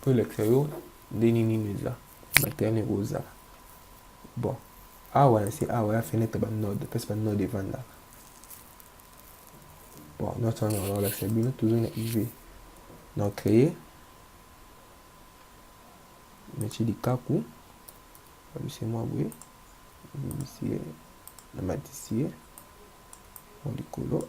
po elakisa yo ndenge nini eza materne ekozala bon awa na se awa ya fenêtre ba node place ba node evanda bon notre wana nakolakisa bino tozongi na iv na créé nati likaku babisi mwa boye bimisi ye na matisi ye mwa likolo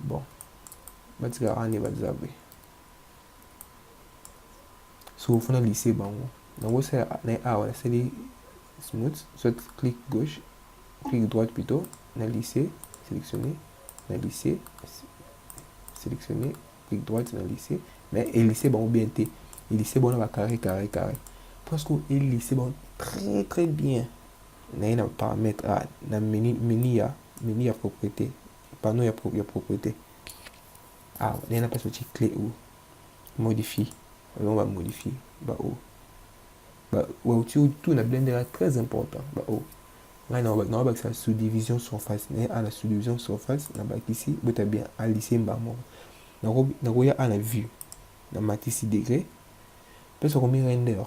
bon batika ane bazabe so ofuna lise bango nakosala na awa nasali smooth soit clic gauche clic droite plutôt na lycée sélectionné na lycée sélectionné clic droite na lycée mais elise bango bien te elise bango na bacarré carré carré parce que elise bango très très bien naye na paramètre a na menu, menu ya menu ya propriété panneau ya, pro, ya propriété awa ah, ndenge na place otie clé ou modifie yango bamodifie bao bauti tout na blender ya très important bao ngai naobakisa sous-division surface naye a na sous-division surface nabakisi bota bien alisie mbaa moko nakoya a na vue namatisi degré mpe sokomi render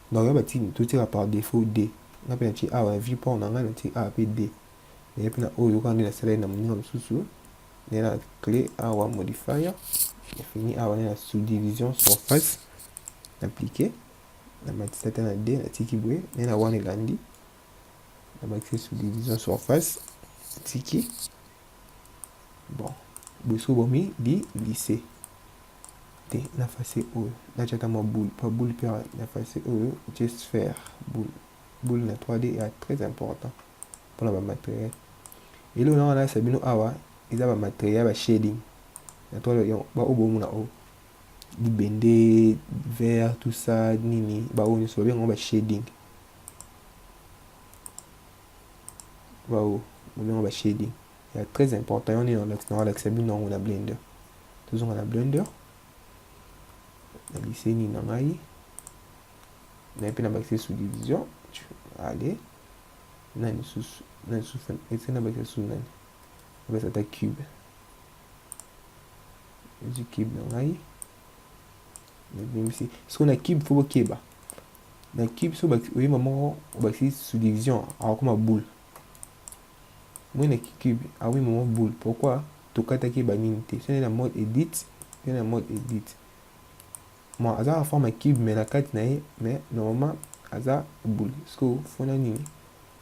Donc ya batini totika par defaut de nga mpe natie awa na viewport na ngai natie awa mpe de naye mpe na oyo kaka nde nasaleli na moninga mosusu naye na clé awa modifier nafini awa naye na subdivision surface naplike namatisa ata na de natiki boye naye na wana elandi nabakisi subdivision surface natiki bon boso bomi di lycée te na face oyo natia ata mwa boule pa boule mpe na face oyo je sphère boule boule na 3d ya très important mpona bamateriel eloko nanga nayesa bino awa eza bamateriel ya bashading na 3d baoyo bomona oyo libende vert tout ça nini baoyo nyonso babengango bashading baoyo babengango bashading ba ya très important yango nini nakolakisa bino yango na blender tozonga na blender na liseni na ngai naye mpe na bakisi subdivision ale na lisusu na lisusu ese na bakisa susu nani nabakisa ata cube ezwi cube na ngai nabimisi sikoyo na cube fo bokeba na cube so oyeba moko obakisi subdivision akokoma boule Mwene Kikube, ah oui maman boule, pourquoi tokataki ye ba nini te? Sene na mode edit, sene na mode edit. Bon, aza na forme ya cube mais na kati na ye, mais normalement aza boule. Siko fona nini?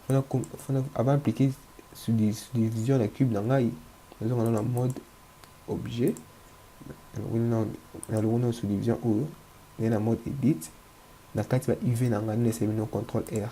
Fona fona avant appliquer subdivision na cube na ngai, nazonga na mode objet. Na longo na subdivision oyo, na mode edit. Na kati ba UV na ngai, na semi no contrôle R.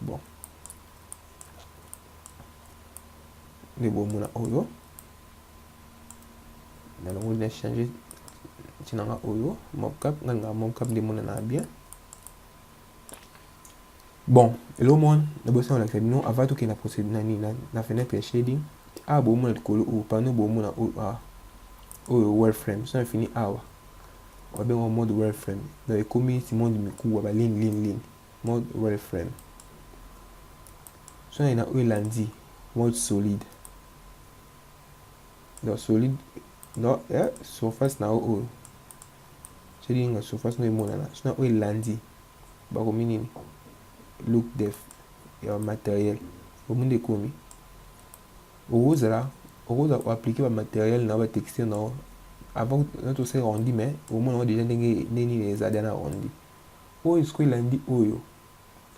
bon nde bomona oyo nalongoli na change ntina nga oyo mobcap nga lingaa mobcap nde emonanaa bien bon eloko moko nabosi na kolakisa bino avant tokende na procédure na nini na fenêtre ya shading awa ah, bomona likolo oyo pano bomona oyo ah, oyo wall frame so na fini awa ah, Babengo mode wireframe. Donc ekomi neti mode mikuwa ba ligne ligne ligne. Mode wireframe. Sona na oyo elandi mode solide. Donc solide donc eh, surface na oyo soki na surface na emonana sona oyo elandi bakomi nini look def ya matériel omundi ekomi okozala okozala ko appliquer ba matériel na yo ba texture na yo avant na to se rendu mais omona yango déjà ndenge ndenge nini eza déjà na rendu oyo siko elandi oyo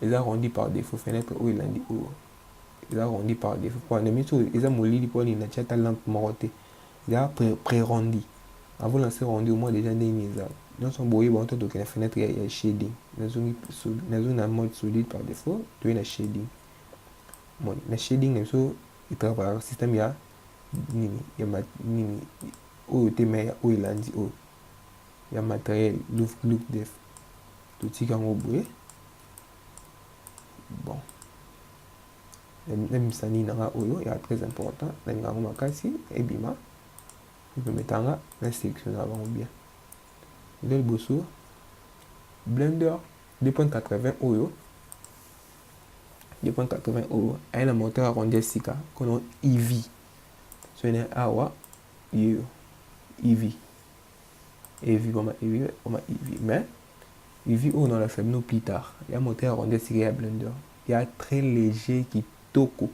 eza rendu par défaut fenêtre oyo elandi oyo eza rendu par défaut mpo na miso eza molili mpo nini natya ata lampe moko te eza pré-rendu avant na se rendu omona déjà ndenge nini eza nyonso boye bango totokela fenêtre ya, ya shading nazongi nazongi na mode solide par défaut toye na shading Bon, na shading na biso etravaillaka système ya nini ya ma, nini oyo te me ya oyo elandi oyo ya matériel look look def totika yango boye bon nabimisa nini nanga oyo ya très important nalinga yango makasi ebima epemeta nga na sélection na bango bien eza liboso blender 2.80 oyo 280 euro aye na moteur ya ronde ya sika kono ev soki na awa yo ev ev boma ev boma ev mais ev oyo na olakisa bino plus tard ya moteur ya ronde ya sika ya blender ya très léger kitoko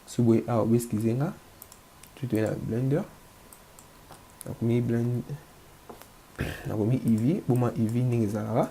soki boye awa obeskize nga soki toye na blender nakomi blend nakomi ev boma ev ndenge ezalaka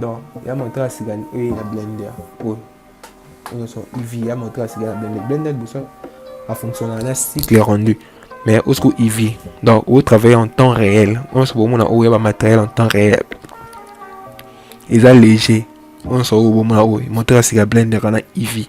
donc ya moto ya sika oyo ya blender oyo nyonso iv ya moto ya sika ya blender blender liboso afonctionnaka na cycle rendu mais osiko iv donc o travailler en temps réel onso bomona oyo ya bamatériel en temps réel eza léger onso oyo bomona oyo moteur ya sika blender kana iv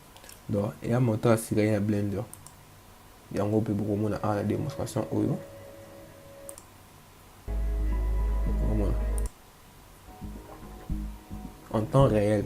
Donc ya moto asilai na blender yango mpe bokomona awa na demonstration oyo bokomona en temps réel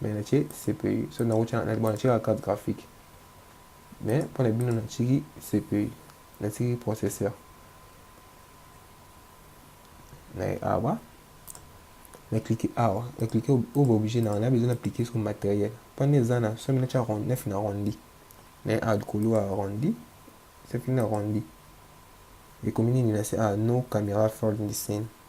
mais na tie cpu so na rocha na bon tika carte graphique mais pour na bino na tiki cpu na tiki processeur na awa na cliquer awa na cliquer au va obligé na na besoin d'appliquer sur matériel pour na eza na somi na tia rond 9 na rondi na a likolo ya rondi soki na rondi ekomi nini na se a no camera fold in the scene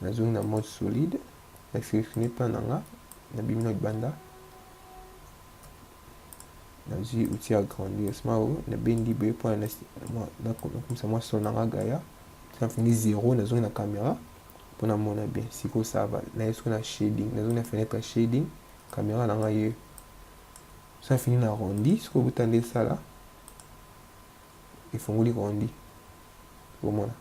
Nazongi na mode solide. Na selectionne plan na nga, na bimi na libanda. Nazwi outil ya grandissement oyo, na bendi boye mpo nakomisa mwa son na nga gaya. Na fini zero, nazongi na camera mpo namona bien. Sikoyo ça va. Naye sikoyo na shading, nazongi na fenêtre ya shading. Camera na nga ye ça fini na rondi sikoyo buta nde esala efongoli rondi bomona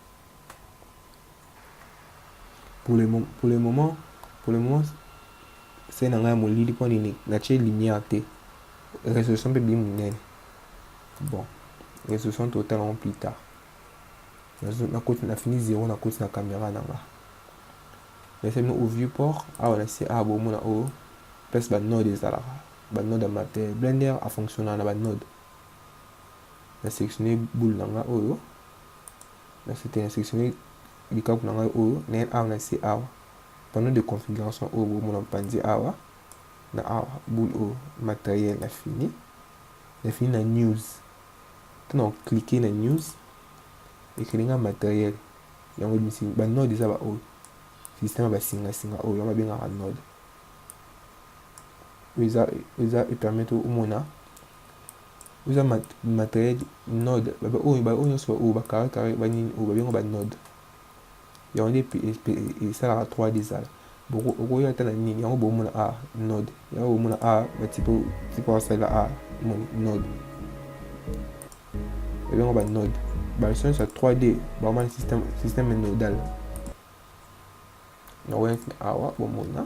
pour le, pour le moment pour le moment se na ngai ya molili mpo nini natie lumière te résolution mpe bili monene bon résolution totala yango plus tard nakoti nafini zero nakoti na caméra na nga nasemi au vieux port awa na se awa bomona oyo place banode ezalaka banode ya matele blender afonctionnaka na banode na sélectionne boule na nga oyo Na site na selectionner likaku na ngai oyo na ye awa na se awa panneau de configuration oyo bomona mpanzi awa na awa boule oyo materiel na fini na fini na news tuna cliquer na news ekeli nga materiel yango ebimisi ba node eza ba oyo système ya basingasinga oyo yango babengaka node oyo eza epermettre omona oza matériel node ba oyo ba oyo nyonso oyo ba carré carré ba nini oyo ba benga ba node yango nde esalaka 3D ezala boko okoya ata na nini yango bomona a node yango bomona a batipo tipo asalela a moni node ebyango ba node baleso nyonso ya 3D bamani système système nodal nakoyaki awa bomona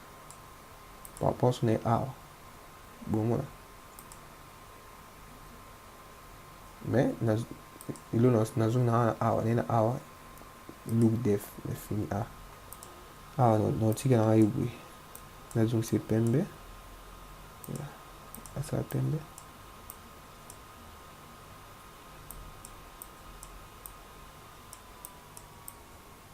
Ba reponse na ye awa bomona mais na ilo nazongi na wana awa nena awa look def na fini a awa naotika na ngai boye nazongisa pembe asala pembe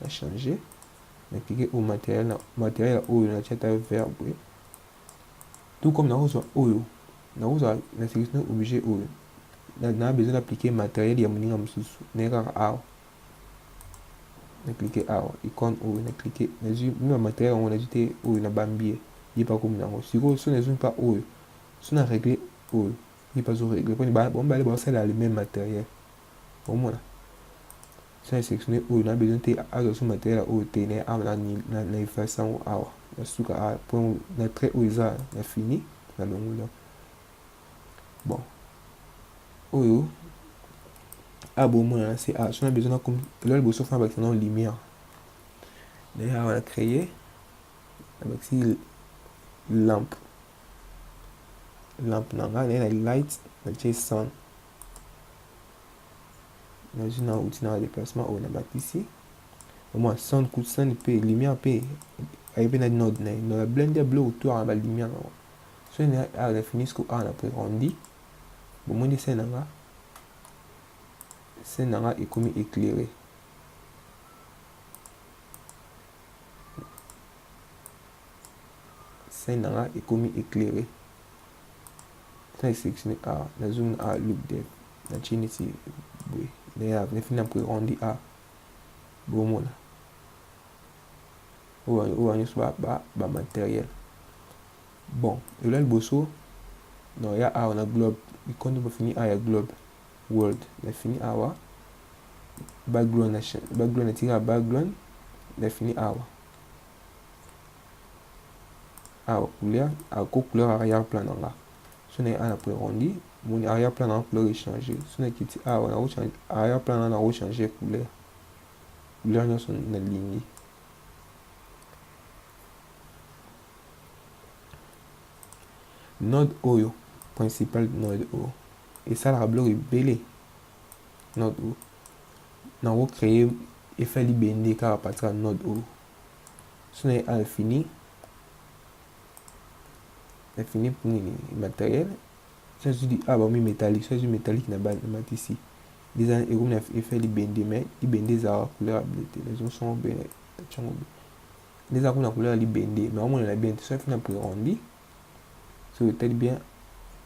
na changer na cliquer au matériel na matériel oyo na tia ta verbe tout comme na kozwa oyo na kozwa na sélection objet oyo na, na besoin d'appliquer matériel ya moninga mosusu na kaka awa na cliquer awa icône oyo na cliquer nazwi mwa matériel yango nazwi te oyo na bambie ye pa komi nango sikoyo so nazwi mpa oyo so na régler oyo ye pa zo régler mpo bango bale baosala le même matériel omona Son exceptionnel oyo na besoin te azo sous materiel oyo te na awa na ni na na efface yango awa na suka a point na trait oyo eza na fini na longola bon oyo a bo mona na se a son besoin na comme là bo sofa ba na lumière na ya na créer avec si lampe lampe na nga na light na chez sound nazo na uti na deplacement oyo nabakisi omwa sound coup de sound mpe lumière mpe aye mpe na node na ye node blende ya bleu autour na balumière nango soki na awa na fini siko awa na prerondi bomoni se na nga se na nga ekomi éclairé Scène nanga ekomi éclairé. Très sélectionné à la zone à look de na chini si boy. D'ailleurs, na fina pour rendu à bomona. Ou ou on soit ba ba matériel. Bon, et là le bosso non ya a on a globe. Il compte pour finir à ya globe world. Na fini à wa background na background na tika background na fini à wa. awa couleur ako couleur arrière plan na nga so na ana po erondi moni arrière plan na couleur echange so na kiti awa na kochange arrière plan na kochange couleur couleur nyonso nalingi node oyo principal node oyo esalaka biloko ebele node o na ko créer effet libende kaka partir ya node o so na à l'infini l'infini pour nini matériel so ezwi di a bakomi métallique so ezwi métallique na bana matisi eza ekomi na effet libende mais libende ezalaka couleur ya bleu te les ombres sont bleu ntango bleu nde eza kuna couleur ya libende mais omonela bien te so efi na prérendi soki otali bien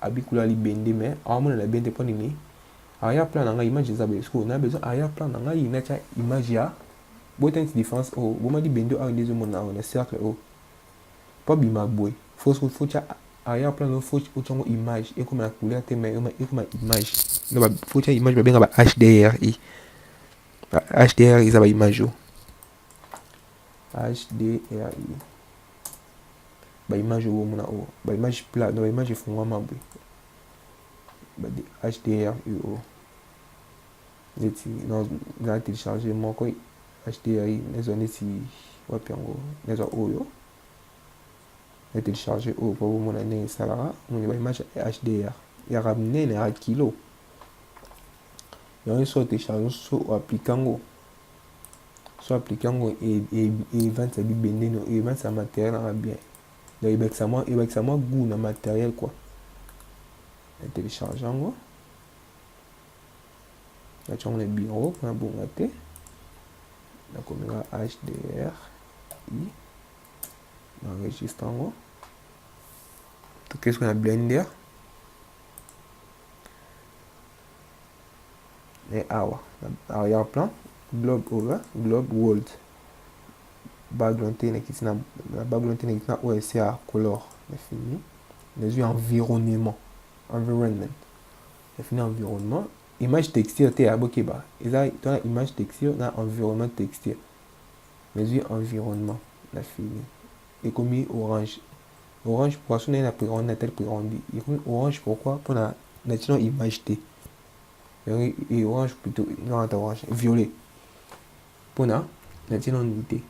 abikula libende mais awamonana bien te mpo nini arrière plan na ngai image eza boye sikoyo na besoin arrière plan na ngai natya image ya bota neti différence oyo oh, boma libende oyo nde ezomona awa na cercle oyo oh. mpo abima boye fotya arrière plan no fo otya yango image ekoma na couleur te mais ekoma image no fotya image babenga ba hdr e ba hdr e, eza ba image oyo oh. HDRI. Ba image oyo bomona oyo, ba image plat, donc ba image efungwama boye. Ba HDRI oyo. Neti na na télécharger moko HDRI nezwa neti wapi yango, nezwa oyo. Na télécharger oyo po bomona ndenge esalaka, moni ba image HDR. Ya minene, ya kilo. Yango soki otélécharger, soki o appliquer yango, so aplike yango evandisa bibende no evandisa materiel nanga bien donc ebakisa mwa ebakisa mwa gout na materiel quoi na télécharge yango natya yango na bureau mpona bonga te nakomeka hdr i na enregistre yango tokei soki na blender e awa arrière plan globe oyo eh, globe world background te nakiti na background te nakiti na oyo esi ya color nafini nazwi environnement environnement nafini environnement image texture te abokeba eza tona image texture na environnement texture nazwi environnement nafini ekomi orange Orange poisson naye na piron na tel piron bi ekomi orange pourquoi pona na tino image te yango orange plutôt non ata orange violet pona na tino ni te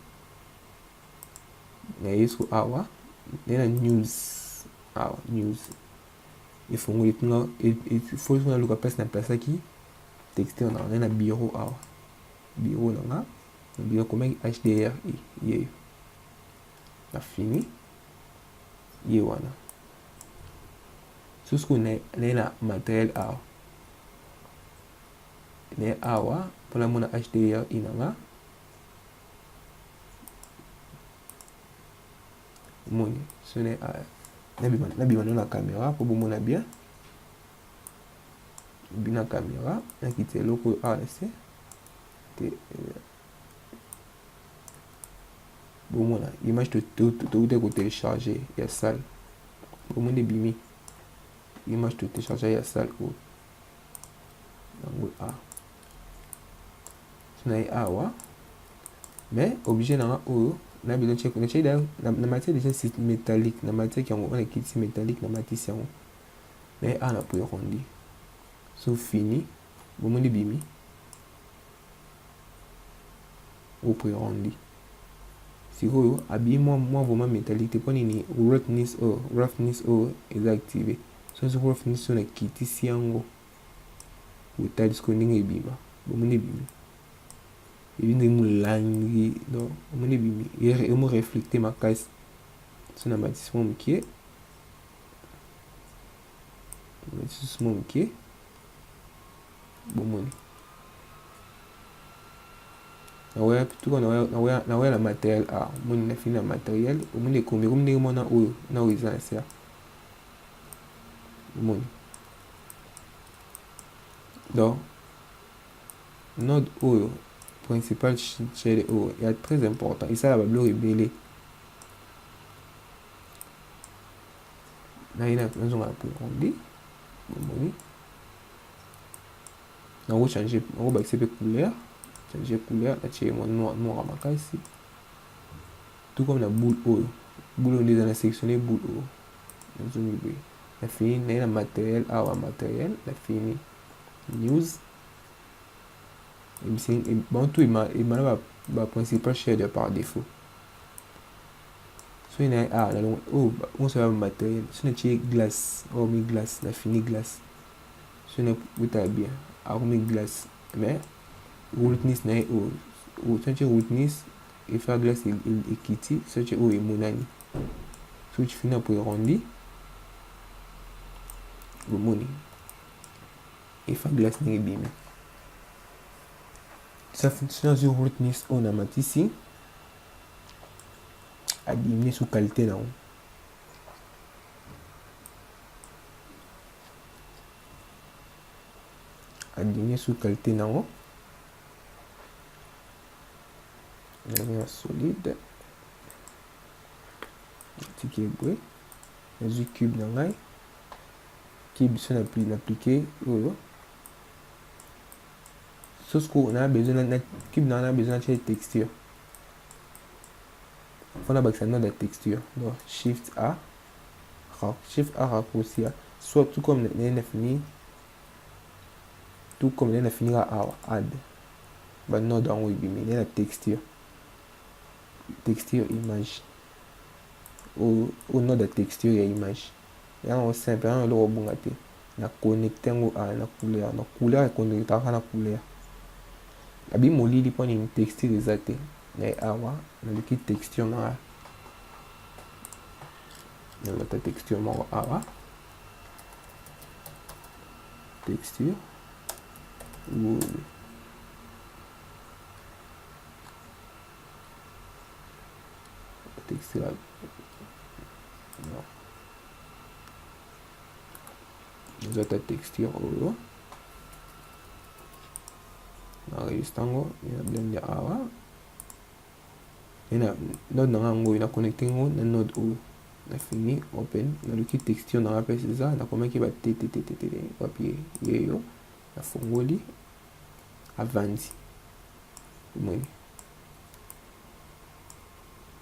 na yesu awa naye na news awa news efongoli kuna efongoli kuna luka place na plasaki texte wana naye na bureau awa bureau na nga na bureau komaki hdr e yeyo na fini ye wana sosi koyo naye na materiel awa naye awa mpona mona hdr inanga moni so naye awa nabima no na caméra mpo bomona bien bina caméra nakiti eloko oyo awa na se te bomona image touta kotelecharge ya salle bomoni ebimi image totelecharge ya salle oyo yango a na ye awa mais objet nanga oyo na bino check na check na matière déjà c'est métallique na matière yango on ekiti métallique na matisi yango mais a na poirondi so fini bomoni bimi opreandi sikoyo abiye mwa mwa vraiment metallique te mpo nini roughness oyo oh, roughness oyo oh, eza active soki soki roughness oyo nakitisi yango otali sikoyo ndenge ebima bomoni ebimi ebi ndenge molangi donc omoni ebimi emo reflecte makasi so na matisi mwa mokie lisusu mwa moke bomoni naweya tuka naweya na materiel a omoni na fini na materiel omoni ekomi ekomi ndenge mwana oyo na oyo eza na ser omoni donc node oyo principal chele oyo ya très important esala babiloko ebele naina nazonga na Burundi bomoni nango change nango bakisi mpe couleur change couleur natie mwa noir noir makasi tout comme na boule oyo boule oyo nde eza na sectionne boule oyo nazongi boye na fini naye na matériel awa matériel na fini news bantu emana baprincipal share ya par défaut soki na ah na longo oh on se va matériel si na tie glace oh mi glace na fini glace si na buta bien ah mi glace mais rootness na oh oh si na tie rootness et faire glace ekiti si na tie oh emonani so tu finis pour arrondi bomoni et faire glace na ebimi ça fonctionne sur rootness on a matisi a diminuer sous qualité na a diminuer sous qualité na yango na solide natiki eboye nazwi cube na ngai ki biso na aplike oyo sosko na besoin na cube na na besoin na texture faut nabakisa nord ya texture donc shift a shift a raccourci soit tout comme naye nafini tout comme naye nafinika awa add banode yango ebimi naye na texture texture image oyo node ya texture ya image Yanga ngo simple yanga eloko ebonga te na connecte ngo awa na couleur na couleur e connectaka kaka na couleur nabi molili mpo nini texture eza te me awa naluki texture na nga nalata texture moko awa texture wulu texture eza ta texture oyo na registre yango na blende awa ena node na nga yango oyo na connecte yango na node oyo na fini open naluki texture na nga mpe eza nakomaki batetetetete wapi yeyo nafongoli avandi omoni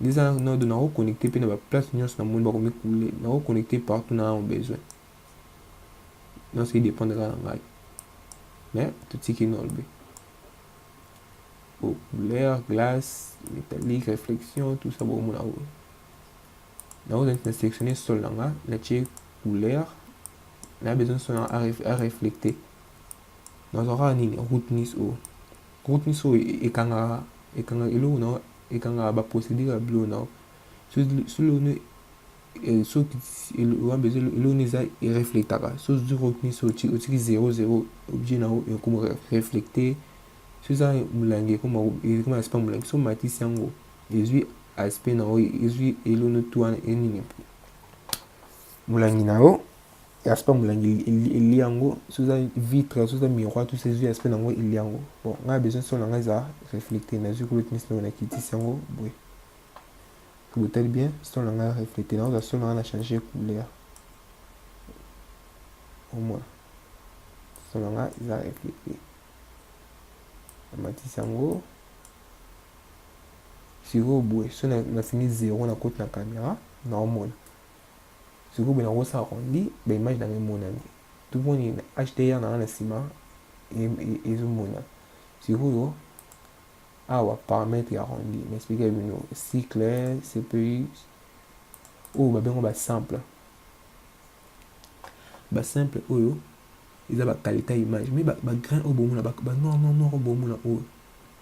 Neza nodo na ko connecter pe na ba place nyonso na moni ba ko mikule na ko connecter partout na au besoin. Non c'est dépendre na ngai. Mais tout ce qui est norbe. Au couleur, glace, métallique, réflexion, tout ça bon mon awo. Na ko na sélectionner sol na nga na tie couleur na besoin son à reflecter. Na zora nini route nice au. Groupe nioso oyo ekangaka ekangaka eloko na yo ekangaka ba procedure ya biloko na yo soki eloko na yo soki ewambe eloko na yo eza ereflectaka soki ozwi groupe nioso otiki zero zero objet na yo ekoma reflecte soki eza molangi ekoma ekoma aspect molangi soki omatisi yango ezwi aspect na yo ezwi eloko na yo tu wana enini molangi na yo Aspect molangi elia yango soki eza vitre soki eza miroir tout ezwi aspect na yango elia yango bon ngai besoin son na ngai eza reflecte nazwi kolo tinisi ndenge nakitisi yango boye botali bien son na ngai reflecte nakozwa son na ngai na change couleur omona son na ngai eza reflecte namatisi yango sikoyo boye so nafini zero na koti na kamera naomona Sikoyo boye nako sa arrondi ba image nanga emonani tout bon ni HDR nanga na sima ezo mona sikoyo awa paramètre ya arrondi na expliquer bino cycle CPU oyo ba bengo ba simple ba simple oyo eza ba qualité image mais ba, ba grain oyo bomona ba, ba noir noir noir oyo bomona oyo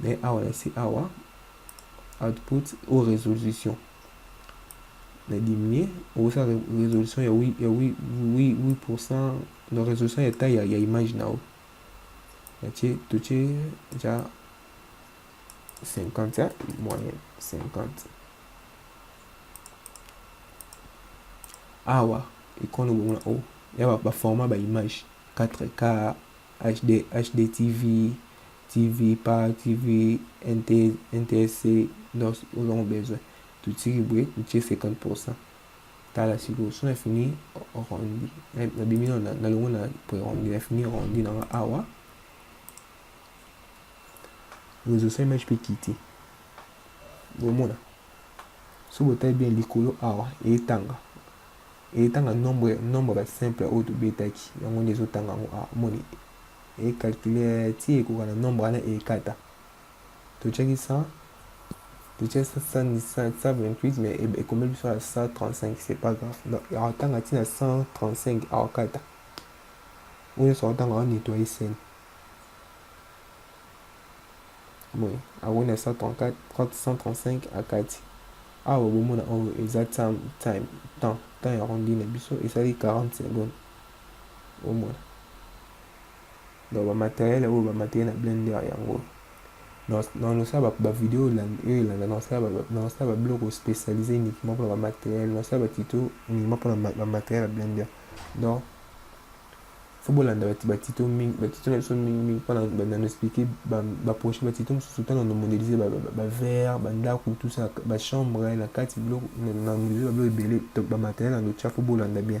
Mais awa na se awa output ou resolution na diminuer okosa resolution ya 8 ya 8 8% na resolution ya taille ya, ya image na yo natie totie ja 50 ya moyen 50 awa ekono bongo na o ya baformat ba image 4k HD, hdtv TV pa TV NTSC nos nous avons besoin totiki boye totie 50 pourcent tala sikoyo so na fini rondi nabimi na longo na boye rondi na fini rondi nanga awa rezosa image mpe kiti bomona so botali bien likolo awa etanga etanga nombre nombre basimple oyo tobetaki yango nde ezotanga yango awa moni e calculer ti ekoka na nombre wana ekata totiaki 100 totiaki 128 mais e, ekomeli biso na 135 c'est pas grave donc akotanga ti na 135 akokata oyo nyonso akotanga ao nettoyer scène boye akoni na 134 135 akati awa bomona oyo eza time temps temps ya rondi na biso esali 40 secondes Omona? Donc ba matériel oyo ba matériel na blender yango. Na nosala ba video oyo elanda na nosala ba na nosala ba biloko spécialisé uniquement pour ba matériel, na nosala ba tuto uniquement pour ba matériel ya blender. Donc faut bolanda ba ba tuto mingi, ba tuto na biso mingi mingi pour na na expliquer ba ba prochain ba tuto mosusu tana na modéliser ba ba verre, ba ndako tout ça, ba chambre na kati biloko na modéliser ba biloko ebele donc ba matériel na notia faut bolanda bien.